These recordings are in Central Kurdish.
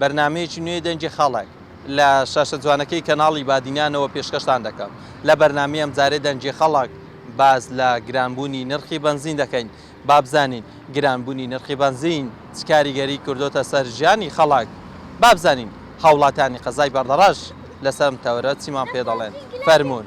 بەرنامەیەکی نوێی دەنگی خەڵک لە شاشە جوانەکەی کەناڵی بادینانەوە پێشکەشتان دەکەم. لە بەرنامەی ئەمجارەی دەنگی خەڵک باس لە گرانبوونی نرخی بەنزین دەکەین. با بزانین گرانبوونی نرخی بەنزین چ کاریگەری کردۆتە سەر ژیانی خەڵک؟ با بزانین هاوڵاتیانی قەزای بەردەڕەش لەسەر ئەم تەوەرە چیمان پێدەڵێن؟ فەرموون.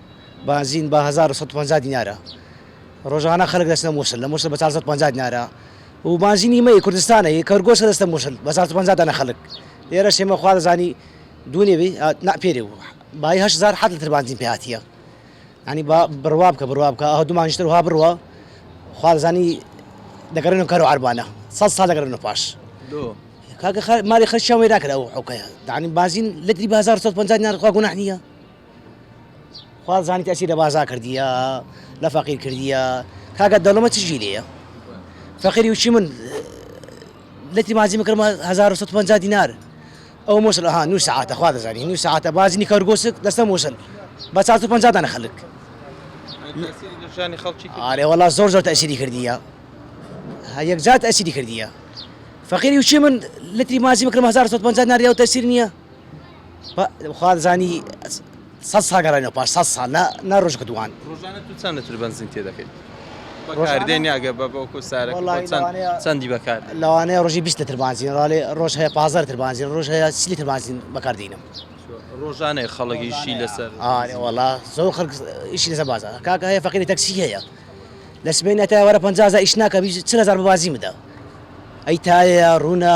بەنزین بە هەزار و سەد و پەنجا دینارە ڕۆژانە خەلک دەچنە موسل لە موسل بە چار سەد و پەنجا دینارە و بەنزینی مەی کوردستانە هی کەرگۆسە دەچنە موسل بە چار سەد و پەنجا دانە خەلک لێرەش ئێمە خوا دەزانی دوونێ بی نا پێرێ بوو بای هەشت هەزار حەت لتر بەنزین پێ هاتیە ینی با بڕوا بکە بڕوا بکە ئەوە دومانشتر وها بڕوە خوا دەزانی دەگەڕێنەوە کەرەوە عەربانە سەد ساڵ دەگەڕێنەوە پاش کاکە مالی خەرشیان وێرا کرد ئەو حوکەیە دانی بازین لەتری بازار 150 نرخوا گوناح نییە خوا زانیت ئەچی لە بازا کردیە لە فەقیر کردیە کاکە دەوڵەمە چ جی لێە فەقیری وچی من لەتی مازی مکرمە 1950 دینار ئەو مووسل ها نو ساعتە خوا دەزانانی نو ساعتە بازنی کەرگۆسک دەستە مووسل بە 1950 دانە خەلک ئارێ وڵا زۆر زۆر تەسیری کردیە هەیەک زات ئەسیری کردیە فەقیری وچی من لەتی مازی مکرم 1950 ناریاو تەسیر نییە خوازانی سەد ساڵ گەڕێنەوە پاش سەد ساڵ نە ڕۆژەکە دووان ڕۆژانە تو چەند لەتر بەنزین تێ دەکەیت بەکاردێنی ئەگە بە بۆکو سارە چەندی بەکار لەوانەیە ڕۆژی بیست لەتر بانزین ڕاێ ڕۆژ هەیە پازار لەتر بانزین ڕۆژ هەیە سی لەتر بانزین بەکاردێنم ڕۆژانەی خەڵگیشی لەسەر ئارێ وڵا زۆر خەڵک ئیشی لەسەر بازار کاکە هەیە فەقیری تەکسی هەیە لە سبێنێتە وەرە پەنجازە ئیش ناکە چ هزار بازی بدە ئەی تایە ڕوونە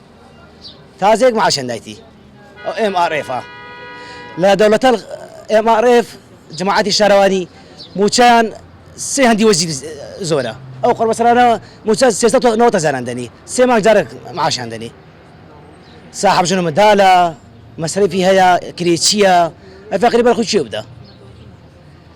تازەیەک معاشیان دایتی ئەو ئێم ئاڕ ئێفە لە دەولەتە ئێم ئاڕ ئێف جماعەتی شارەوانی موچەیان سێ هەندی وەزیر زۆرە ئەو قڕبەسەرانە موچە سێسەد و نەوەت هەزاران دەنی سێ مانگ جارێک معاشیان دەنی ساحب ژنە مندالە مەسرەفی هەیە کرێچییە ئەفەقری بەرخو چێ بدە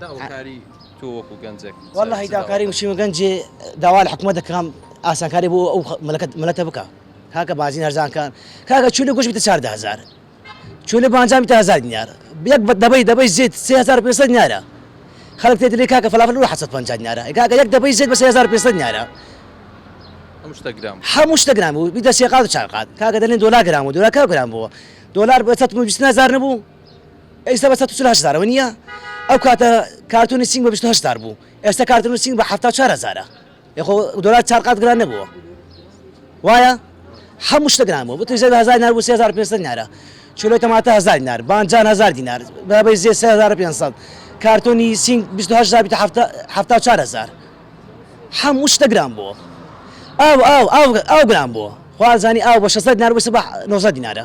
داوکاری تۆ وەکو گەنجێک وەڵی داکاری وشیمە گەنجێ داوا لە حکومە دەکەم ئاسانکاری بۆ ئەو مەلەکەت مەلەتە بکە کاکە بازی هەرزانکان کاکە چولی گوش بتە چاردە هزار چولی بانجامی تا هزار دینار یەک بە دەبەی دەبەی زیت سێ هزار پێسە نارە خەڵک تێ دلی کاکە فلافل و حەسەت پنج نارە کاکە یەک دەبەی زیت بە سێ هزار پێسە نارە هەموو شتەگران بوو بیدە سێقات و چاقات کاکە دەلێن دۆلا گران و دۆلاکە گران بووە دۆلار بە 120 هزار نەبوو ئێستا بە سەد و چل و هەشت هەزارەوە نییە ئەو کاتە کارتۆنی سینگ بە بیست و هەشت هەزار بوو ئێستا کارتۆنی سینگ بە حەفتا و چوار هەزارە یە خۆ دۆلار چار قات گران نەبووە وایە هەموو شتە گران بوو بتوی زێ بە هەزار دینار بوو سێ هەزار و پێنج سەد دینارە کیلۆی تەماتە هەزار دینار بانجان هەزار دینار بەرابەی زێ سێ هەزار و پێنج سەد کارتۆنی سینگ بیست و هەشت هەزار بیست و حەفتا حەفتا و چوار هەزار هەموو شتە گران بووە ئاو ئاو ئاو ئاو گران بووە خوازانی ئاو بە شەست دینار بوو سبە نۆزدە دینارە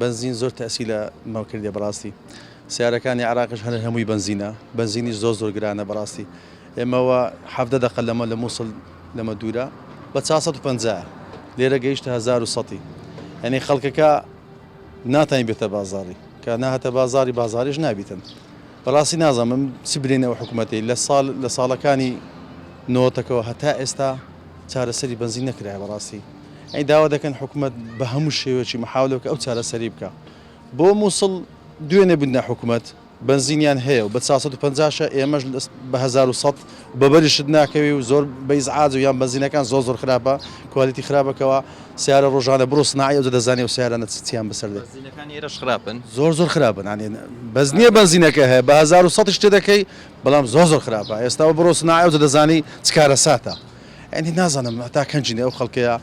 بەنزین زۆر تەئسی لە مە کردیە بەڕاستی سەیارەکانی عێراقش هەر هەمووی بەنزینە بەنزینیش زۆر زۆر گرانە بەڕاستی ئێمە وە حەڤدە دەقە لەمە لە مووسڵ لەمە دوورە بە چا سەد و پەنجا لێرە گەیشتە هەزار و سەتی یعنی خەڵکەکە ناتانی بێتە بازاڕی کە ناهاتە بازاڕی بازاریش نابیتن بەڕاستی نازانم چی برینە و حکوومەتی لە ساڵ لە ساڵەکانی نۆتەکەەوە هەتا ئێستا چارەسەری بەنزین نەکرایە بەڕاستی یانی داوا دەکەن حکومەت بە هەموو شێوەیەکی محاولە بکە ئەو چارەسەری بکا بۆ موسڵ دوێنێ بندە حکومەت بەنزینیان هەیە و بە 450 شە ئێمەش بە 1900 بەبەریشت ناکەوی و زۆر بە ئیزعاج و یان بەنزینەکان زۆر زۆر خراپە کوالیتی خراپەکەوە سیارە ڕۆژانە بڕۆ سناعی ئەوجە دەزانێ و سیارانە چ چیان بەسەر دێ بەنزینەکانی ئێرەش خراپن زۆر زۆر خراپن یانی بەس نییە بەنزینەکە هەیە بە 1900 شتێ دەکەی بەڵام زۆر زۆر خراپە ئێستاوە بڕۆ سناعی ئەوجە دەزانی چ کارەساتە. یانی نازانم هەتا کەنجینە ئەو خەڵکەیە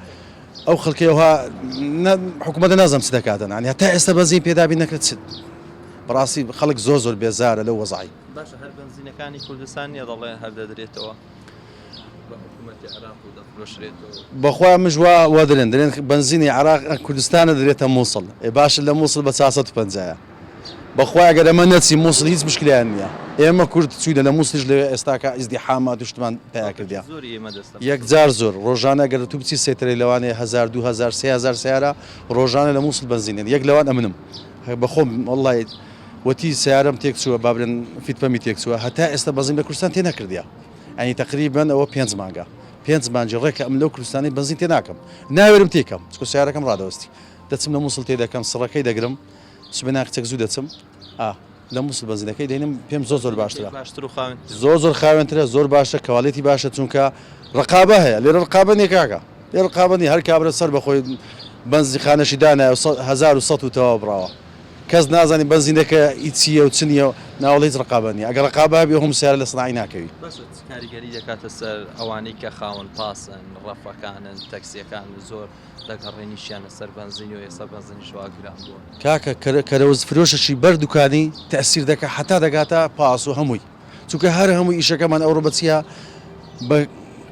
ئەو خەڵکەیە وها حکوومەتە نازانم چ دەکاتن یانی هەتا ئێستا بەزین پێدابی نەکرد چ بەڕاستی خەڵک زۆر زۆر بێزارە لە وەزعی باشە هەر بنزینەکانی کوردستان نیە دەڵێ هەر دەدرێتەوە بەخوا مژ وا وا درێن درێن بنزینی عێراق کوردستانە درێتە مووسڵ ئێ باشە لە مووسڵ بە چار سەد و پەنجایە بەخوای ئەگەر ئەمە نەچی موسڵ هیچ مشکلیان نیە ئێمە کورد چوینە لە موسڵیش لەوێ ئێستاکە ئیزدیحامات و شتمان پیا کردیە یەکجار زۆر ڕۆژانە گەر تو بچی سێتەرەی لەوانەیە هەزار دوو هەزار سێ هەزار سەیارە ڕۆژانە لە موسڵ بەنزین دێن یەک لەوان ئەمنم بەخۆم وەڵای وەتی سەیارەم تێک چووە بابرێن فیت پەمی تێک چووە هەتا ئێستا بەنزین لە کوردستان تێ نەکردیە ئەنی تقریبا ئەوە پێنج مانگە پێنج مانجی ڕێکە ئەم لەو کوردستانی بەنزین تێ ناکەم ناوێرم تێکەم چکە سیارەکەم ڕادەوەستی دەچم لە موسڵ تێ دەکەم سڕەکەی دەگرم سبەی ناخ چەک زوو دەچم ئا لە مووسڵ بەنزینەکەی دێنم پێم زۆر زۆر باشترە باشتر و خاوێن زۆر زۆر خاوێنترە زۆر باشە کەواڵێتی باشە چونکە ڕقابە هەیە لێرە ڕقابە نیە کاکە لێ ڕقابە نیە هەر کابرا سەر بەخۆی بەنزی خانەشی دانایە و سە- هەزار و سەد و تەواو بڕاوە کەس نازانی بەنزینەکە ئی چییە و چ نییە و ناوەڵ هیچ ڕقابە نیە ئەگەر ڕقابە هەبێ هەموو سیارە لە سناعی ناکەوی بەس چ کاریگەری دەکاتە سەر ئەوانەی کە خاوەن پاسن ڕەفەکانن تەکسیەکان زۆر دەگەڕێنیشیانە سەر بەنزین و ئێستا بەنزینیش وا گران بووە. کاکە کەرەوز فرۆشەکی بەر دوکانی تەئسیر دەکا حەتا دەگاتە پاس و هەمووی چونکە هەر هەمووی ئیشەکەمان ئەوڕۆ بە چیا بە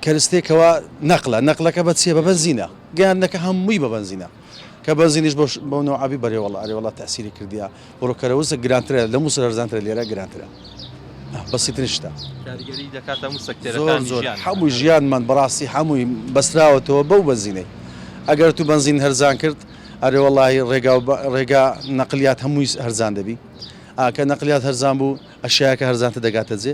کەرستەیەک کەوا نەقلە نەقلەکە بە چیە بە بەنزینە گەیاندنەکە هەمووی بە بەنزینە کە بەنزینیش بەو نەوعە بی بەرێوەڵا ئەرێوەڵا تەئسیری کردیە. بڕۆ کەرەوسک گرانترە لەموس لەرزانترە لێرە گرانترە بەسیترین شتە کاریگەری دەکاتە موسە کتێرەکانی زۆر ژیان هەموو ژیانمان بەڕاستی هەمووی بەستراوەتەوە بەو بەنزینەی ئەگەر تو بەنزین هەرزان کرد ئەرێ وەڵی ڕێگا ڕێگا نەقلیات هەمووی هەرزان دەبی ئاکە نەقلیات هەرزان بوو ئەشیاکە هەرزانتە دەگاتە جێ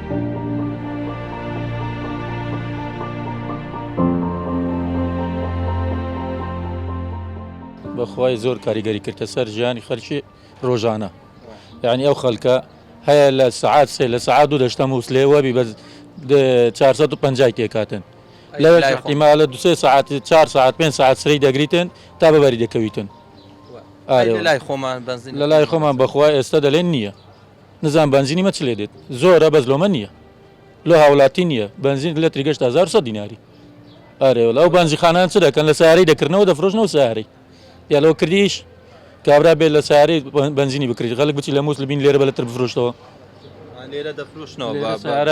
بەخوای زۆر کاریگەری کردە سەر ژیانی خەرکی ڕۆژانە یعنی ئەو خەلکە هەیە لە سعات سێ لە سعات دوو دەشتە مووسلێ وەبی بە 450 تێکاتن لەوێ احتیمالە دو سێ سعات 4 سعات پێ سعات سری دەگریتن تا بەبەری دەکەویتن لای خۆمان بەنزین لە لای خۆمان بەخوای ئێستا دەلێن نییە نزان بەنزینی مە چ لێ دێت زۆرە بەس لۆمە نییە لۆ هاولاتی نییە بەنزین لە تری گەشت هزار سە دیناری ئارێوە ئەو بەنزی خانان چ دەکەن لە ساری دەکردنەوە دەفرۆشنەوە ساری یا لەو کردیش کابرا بێت لە ساری بنزینی بکرێت غەلک بچی لە مووس لە بین لێرە بە لەتر بفرۆشتەوە لێرەدەفرۆشنەوە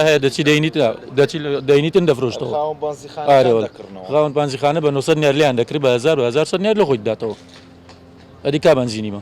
هەیە دەچی دەینیت دەچی دەینیتن دەفرۆشتەوە خاون پانزیخانە بە 900 نرلیان دەکرێت بە 1970 نر لە خۆی داتەوە ئەدی کا بنزینی بە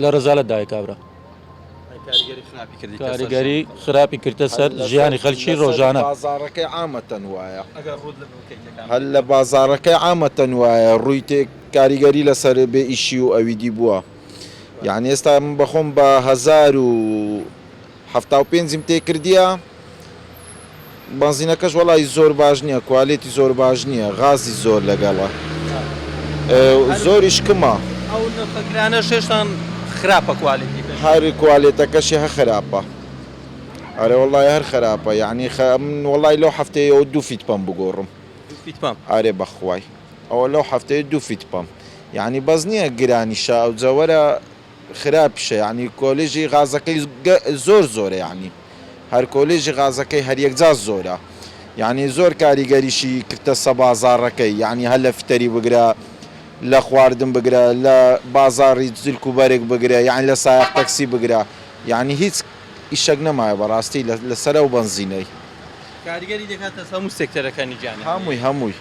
لە رەزالەت دایە کابرا. کاریگەری خراپی کردە سەر ژیانی خەلکی رۆژانە. هەر لە بازاڕەکەی عامەتەن وایە ڕووی تێک کاریگەری لەسەر بێ ئیشی و ئەویدی بووە یانی ئێستا من بەخۆم بە هەزار و حەفتا و پێنجیم تێ کردیە. بەنزینەکەش وەڵای زۆر باش نیە کوالێتی زۆر باش نیە غازی زۆر لەگەڵە زۆریش کمە. ئەو نرخە گرانەش هێشتان خراپە کوالێتی پێشتر. هەر کوالێتەکەشی هە خراپە. ئەرێ وەڵای هەر خراپە یەعنی خە من وەڵای لەو حەفتەیەوە دوو فیت پەم بگۆڕم. دوو فیت پەم. ئەرێ بەخوای ئەوە لەو حەفتەیە دوو فیت پەم یەعنی بەس نیە گرانیشە ئەوجە وەرە. خراپشە یەعنی کۆلیژی غازەکەی زۆر زۆرە یەعنی هەر کۆلیژی غازەکەی هەر یەکجا زۆرە یەعنی زۆر کاریگەریشی کردەسە بازاڕەکەی یەعنی هەر لە فتەری بگرە لە خواردن بگرە لە بازاڕی زلک و بەرگ بگرە یەعنی لە سایەق تەکسی بگرە یەعنی هیچ ئیشەک نەمایە بەڕاستی لە سەر ئەو بەنزینەی. کاریگەری دەکاتەسە هەموو سێکتەرەکانی گیانی. هەمووی هەمووی.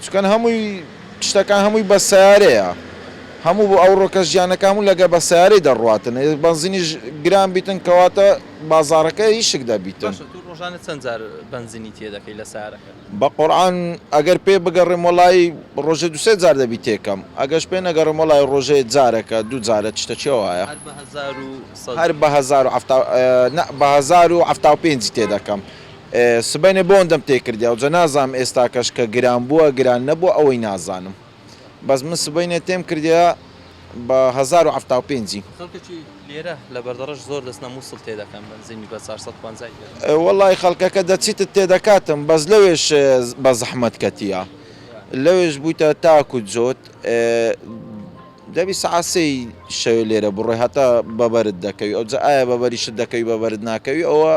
چونکە هەمووی شتەکان هەمووی بە سەیارەیە هەموو ئەو ڕۆکە ژیانەکە هەموو لەگە بە سەیارەی دەڕواتن ئێ بەنزینیش گران بیتن کەواتە بازاڕەکە هی شک دەبیتن. باشە تو ڕۆژانە چەند جار بەنزینی تێ دەکەی لە سەیارەکەت؟ بەقورعان ئەگەر پێ بگەڕێم وەڵایی ڕۆژێ دو سێ جار دەبی تێ کەم ئەگەش پێ نەگەڕێم وەڵایی ڕۆژێ جارەکە دو جارە چشتە چیا وایە؟ هەر بە هەزار و سەد. هەر بە هەزار و حەفتا نا بە هەزار و حەفتا و پێنجی تێ دەکەم سبەینێ بۆ ئەوەندەم تێ کردیاو جا نازانم ئێستاکەش کە گران بووە گران نەبووە ئەوەی نازانم بەس من سبەینێ تێم کردیا بە هەزار و حەفتا و پێنجی. خەڵکەکی لێرە لە بەردەڕەش زۆر دەچنە موسڵ تێ دەکەن بەنزینی بە چار سەد پەنجای پێ دەکەن. وەڵای خەڵکەکە دەچیتت تێ دەکاتم بەس لەوێش بە زەحمەت کەتیە لەوێش بوویتە تاکو جۆت دەبی سەعات سێی شەوێ لێرە بڕۆی هەتا بەبەرت دەکەوی ئەوجا ئایا بەبەریشت دەکەوی بەبەرت ناکەوی ئەوە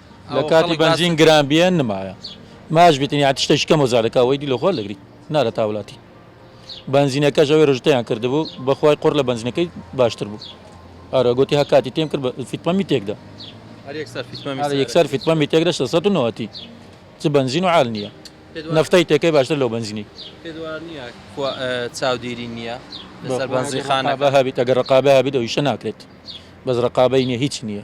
لە کاتی بەنزین گران بیە نمایە ماش بیتن یا تشتێکی کەم وەزارەکە وەیدی لە خۆر دەگری نارە تاولاتی بەنزینەکە ژەوێ ڕژتیان کردبوو بەخوای قڕ لە بەنزینەکەی باشتر بوو ئارە گوتی هە کاتی تێم کرد فیتپەمی تێکدا یەکسەر فیتپەمی تێکدا 1990 چ بەنزین و عال نییە نفتەی تێکەی باشتر لەو بەنزینی چاودێری نییە لەسەر بەنزیخانە بە هابیت ئەگەر ڕقابە هابیت ئەویشە ناکرێت بەس ڕقابەی نیە هیچ نییە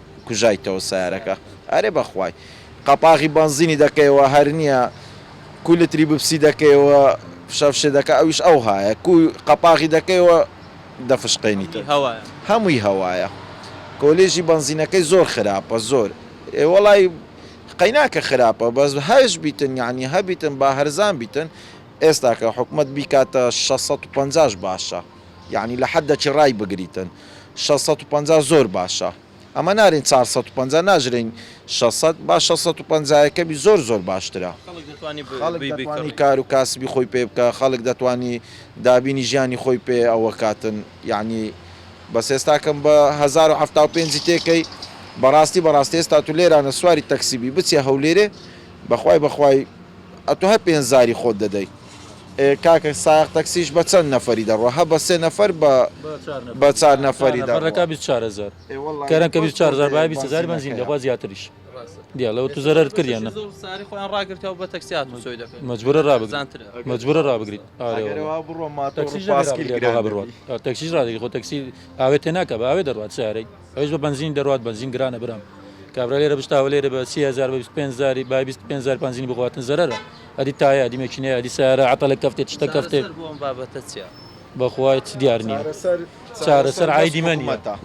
کوژایتەوە سەیارەکە ئەرێ بەخوای قەپاغی بەنزینی دەکەیەوە هەر نیە کوو لتری ببسی دەکەیەوە فشە فشە دەکە ئەویش ئەو هایە کوو قەپاغی دەکەیەوە دەفشقێنیت هەمووی هەوایە کۆلێژی بەنزینەکەی زۆر خراپە زۆر ئێ وەڵای قەیناکە خراپە بەس هەش بیتن یعنی هەبیتن با هەرزان بیتن ئێستاکە حکومەت بیکاتە شەست سەد و پەنجاش باشە. یەعنی لە حەددە چی ڕای بگریتن شەش سەد و پەنجا زۆر باشە ئەمە نارێن چار سەد و پەنجا ناژرێین شەش سەد با شەش سەد و پەنجا یەکەمی زۆر زۆر باشترە خەڵک دەتوانی کار و کاسبی خۆی پێ بکا خەڵک دەتوانی دابینی ژیانی خۆی پێ ئەوە کاتن یەعنی بەس ئێستا کەم بە هەزار و حەفتا و پێنجی تێ کەی بەڕاستی بەڕاستی ئێستا تو لێرانە سواری تەکسی بی بچیە هەولێرێ بەخوای بەخوای ئەتو هەر پێنج زاری خۆت دەدەی. کاکە سایەق تەکسیش بە چەند نەفەری دەڕوا هە بە سێ نەفەر بە بە چار نەفەری دەڕوا. بەڕێکا بیست چار هەزار ئێ وەڵا کەرەن کە بیست چار هەزار بایە بیست هەزاری بەنزین دەخوا زیاتریش دیالە ئەوە تو زەرەرت کرد یان نا مەجبورە ڕابگریت مەجبورە ڕابگریت ئارێ وەڵا ئەگەروا بڕۆ ماتۆڕ و پاسکیل گران دەبی تەکسیش ڕادەگری خۆ تەکسی ئاوێ تێناکە بە ئاوێ دەڕوات سەیارەی. ئەویش بە بەنزین دەڕوات بەنزین گرانە برام کابرا لێرە بشتاوە لێرە بە سی هەزار بە بیست و پێنج هەزاری با بیست و پێنج هەزار بەنزینی بخواتن زەرەرە ئەدی تایە ئەدی مەکینەیە ئەدی سەیارە عەتەڵێک کەفتێ تشتێک کەفتێ چارەسەر بۆ ئەم بابەتە چیە؟ بە خوا هیچ دیار نییە چارەسەر چارەسەر چارەسەر عایدی مەنیە حکومەتە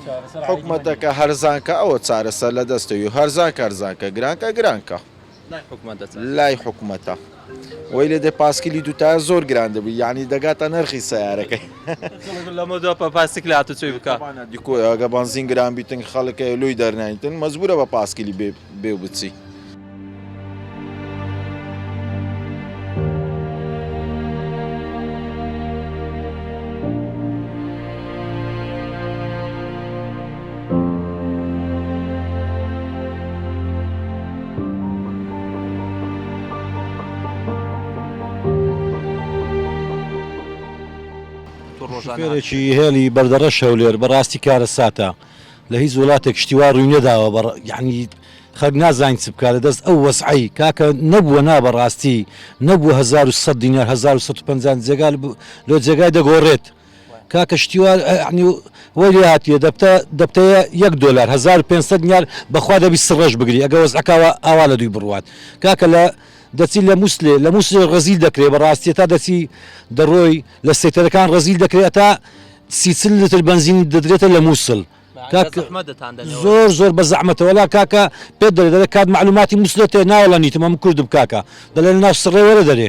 چارەسەر عایدی مەنیە حکومەتەکە هەرزانکە ئەوە چارەسەر لە دەستە یو هەرزانکە هەرزانکە گرانکە گرانکە. لای حکومەتە وەی لێ دێ پاسکیلی دووتایە زۆر گران دەبی یعنی دەگاتە نرخی سیارەکەی لەمە دو پاسیک لە هاتوچۆی بکە دیکۆگە بەنزین گران بیتن خەڵکە لوی دەرنایتن مەزبورە بە پاسکیلی بێ و بچی. شوفێرێکی هێلی بەردەڕەش هەولێر بەڕاستی کارە ساتە لە هیچ وڵاتێک شتیوا ڕووی نەداوە بە یعنی خەک نازانین چ بکات لە دەست ئەو وەسعی کاکە نەبووە نا بەڕاستی نەبوو 1970 دینار 1950 جێگال لۆ جێگای دەگۆڕێت. کاکە شتیوار یەعنی وەی لێ هاتیە دەبتە دەبتەە یەک دۆلار هەزار و پێنج سەد نیار بەخوا دەبی سڕەش بگری ئەگە وەزعەکە ئەوە ئاوا لەدووی بڕوات کاکە لە دەچی لە موسلێ لە موسلێ ڕەزیل دەکرێ بەڕاستی ئەتا دەچی دەڕۆی لە سەیتەرەکان ڕەزیل دەکرێ ئەتا سی چل لتر بەنزینت دەدرێتە لە موسل کاکە زەحمەت دەتان دەنێ وەلا. زۆر زۆر بە زەحمەتە وەلا کاکە پێت دەرێ دەرێ کات مەعلوماتی موسلێت هەیە ناوەڵە نیتم ئەمن کوردم کاکە دەلێن ناو سڕێ وەرە دەرێ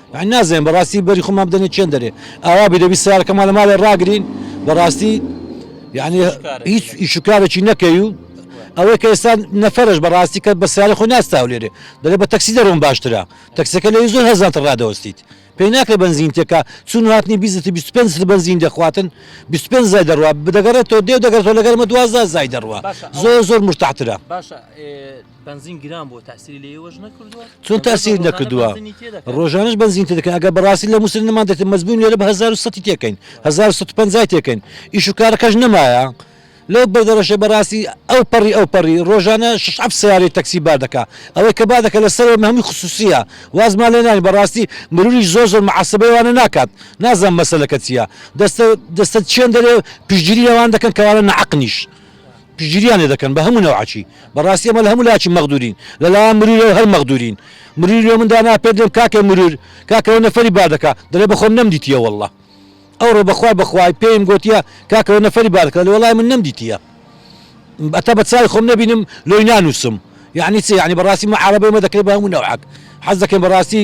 یانی نازانین بەڕاستی بەری خۆمان بدەنە چەند دەرێ ئاوا بی دەبی سارەکەمان لە ماڵێ ڕاگرین بەڕاستی یعنی هیچ ئیشوکارێکی نەکەی و ئەوەی کە ئێستا نەفرش بەڕاستی کە بە سیارە خۆ ناستاو لێرێ دەێ بە تەکسی دەرۆم باشترە تەکسەکە لەوی زۆر هەزانتە ڕادەوەستیت پێی ناکرێ بنزین تێکا چون هاتنی بیزت 25 بنزین دەخواتن 25 زای دەڕوا بدەگەڕێتەوە دێو دەگەڕێتەوە لەگەرمە دوازدا زای دەڕوا زۆر زۆر مرتاحترە بەنزین گران بۆ تاسیری لە ئێوەش نەکردووە چۆن تاسیر نەکردووە ڕۆژانش بەنزین تێدەکەن ئەگە بەڕاستی لە مووسن نمان دێت مەزبوون لێرە بە 1970 تێکەین 1950 تێکەین ئیش و کارەکەش نەمایە لەو بەردەڕەشە بەڕاستی ئەو پەڕی ئەو پەڕی ڕۆژانە شش ئەف سیارەی تەکسی بار دەکا ئەوەی کە با دەکە لەسەر هەمووی خصوصیە وازمان لێ نانی بەڕاستی مروری زۆر زۆر معسبەی وانە ناکات نازان مەسەلەکە چییە دەستە دەستە چێن دەرێ پشتگیری لەوان دەکەن کەوانە نەعەقنیش پشتگیریان لێ دەکەن بە هەموو نەوعەکی بەڕاستی ئەمە لە هەموو لایەکی مەغدورین لە لایەن مروورەوە هەر مەغدورین مرووری لۆ من دانا پێت لێم کاکە مروور کاکە ئەوە نەفەری با دەکا دەڵێ بەخۆم نەمدیتیە واللە ئەوڕۆ بەخوای بەخوای پێیم گۆتیە کاکە ئەوە نەفەری با دەکا دەڵێ وەڵای من نەمدیتیە ئەتا بە چاوی خۆم نەبینم لۆی نانووسم یعنی چی یعنی بەڕاستی معارەبەی مە دەکرێت بە هەموو نەوعەک حەز دەکەین بەڕاستی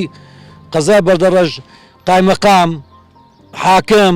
قەزای بەردەڕەژ قایمەقام حاکم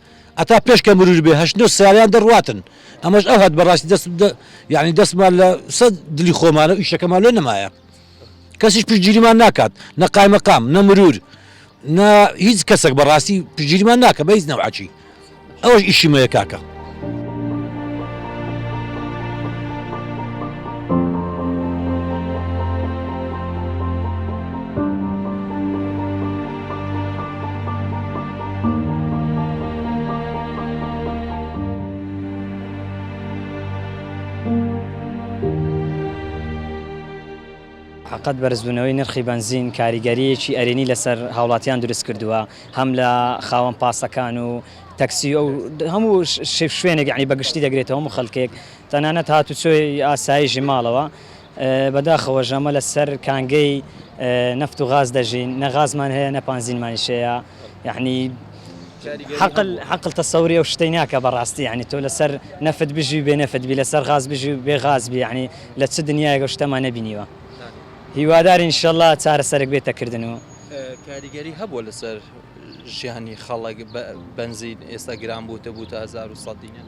هەتا پێش کە مرور بێ هەشت نۆ سالیان دە ڕاتن ئەمەش ئەو هات بەڕاستی دەست یعنی دەستمان لە سە دلی خۆمانە ئیشەکەمان لێ نمایە کەسیش پشگیریمان ناکات نە قایمەقام نە مرور نە هیچ کەسێک بەڕاستی پشگیریمان ناکە بە هیچ نەوعچی ئەوەش ئیشیمەیە کاکە قەت بەرزبوونەوەی نرخی بەنزین کاریگەرییەکی ئەرێنی لەسەر هاوڵاتیان دروستکردووە، هەم لە خاوەن پاسەکان و تەکسی و هەموو شوێنێک یانی بەگشتی دەگرێتەوە هەموو خەلکێک تەنانەت هاتوچۆی ئاسایشی ماڵەوە بەداخەوە ژەمە لەسەر کانگەی نەفت و غاز دەژین نە غازمان هەیە نە پانزینمانیش هەیە یەعنی حەقل حەقل تەسەوری ئەو شتەی ناکە بەڕاستی یەعنی تۆ لەسەر نەفت بژی و بێ نەفت بی لەسەر غاز بژی و بێ غاز بی یەعنی لە چ دنیایەک ئەو شتەمان نەبینیوە هیوادارین ان شاءاللە چارەسەرێک بێتە کردن و کاریگەری هەبووە لەسەر ژیانی خەڵک بەنزین ئێستا گران بووتە بووتە هەزار و سەد دینار.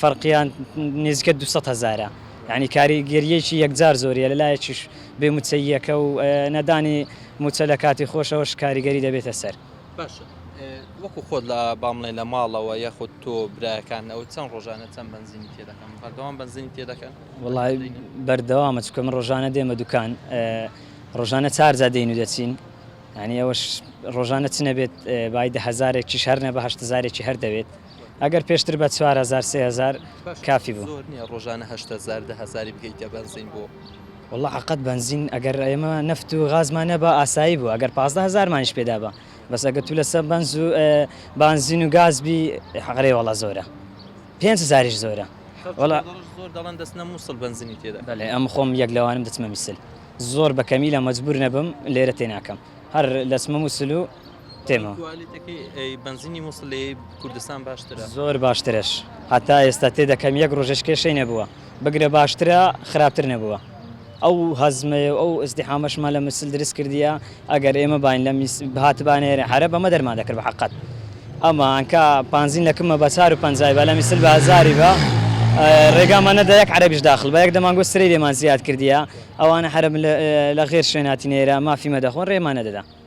فەرقیان نێزیکە دوو سەد هەزارە یانی کاریگەریەکی یەکجار زۆریە لەلایەکیش بێ موچەییەکە و نەدانی موچە لە کاتی خۆشەوەش کاریگەری دەبێتە سەر. باشە وەکو خۆت لە با بڵێن لە ماڵەوە یاخود تۆ برایەکان ئەوە چەند ڕۆژانە چەند بەنزینی تێ دەکەن بەردەوام بەنزینی تێ دەکەن؟ وەڵا بەردەوامە چونکە من ڕۆژانە دێمە دوکان ڕۆژانە چارجا دێین و دەچین یانی ئەوەش ڕۆژانە چ نەبێت بای دە هەزارێکیش هەر نە بە هەشت هەزارێکی هەر دەوێت. ئەگەر پێشتر بە چوار هەزار سێ هەزار کافی بوو. زۆر نیە ڕۆژانە هەشت هەزار دە هەزاری بکەیتە بەنزین بۆ. وەڵا عەقەت بەنزین ئەگەر ئێمە نەفت و غازمان نەبا ئاسایی بوو ئەگەر پازدە هەزارمانیش پێ دابا بەس ئەگەر تو لەسە بەنز و بانزین و گاز بی ئەرێ وەڵا زۆرە پێنج هەزاریش زۆرە وەڵا زۆر دەڵێن دەچنە موسڵ بەنزینی تێدا بەلێ ئەم خۆم یەک لەوانم دەچمە میسل زۆر بە کەمیلە مەجبور نەبم لێرە تێناکەم هەر دەچمە موسل و تێما بەنزینی مووسڵ لە کوردستان باشترە زۆر باشترش هەتا ئێستا تێ دەکەم یەک ڕۆژش کێشەی نەبووە بگرە باشترە خراپتر نەبووە ئەو هەزمەیە ئەو ئەزدیحامەشمە لە مسل درست کردیە ئەگەر ئێمە باین لە هاتبانێرە حرە بەمە دەرمان دەکرد بە حقت ئەمە ئەنکە پانزین لەکمە بە چار و پنجای بە لە میسل بە هزاری بە ڕێگامان نەدا یەک عربیش داخل بە یەک دەمانگو سری لێمان زیاد کردیە ئەوانە حرە لە غێر شوێناتی نێرە مافیمە دەخۆن ڕێمان نەدەدا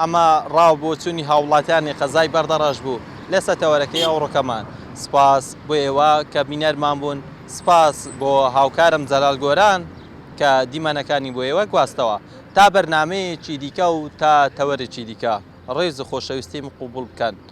ئەمە ڕا و بۆچوونی هاووڵاتیانی قەزای بەردەڕەش بوو لە سەتەوەرەکەی ئەوڕۆکەمان. سپاس بۆ ئێوە کە بینەرمان بوون، سپاس بۆ هاوکارم جەلال گۆران کە دیمەنەکانی بۆ ئێوە گواستەوە. تا بەرنامەیەکی دیکە و تا تەوەرێکی دیکە، ڕێز و خۆشەویستیم قبووڵ بکەن.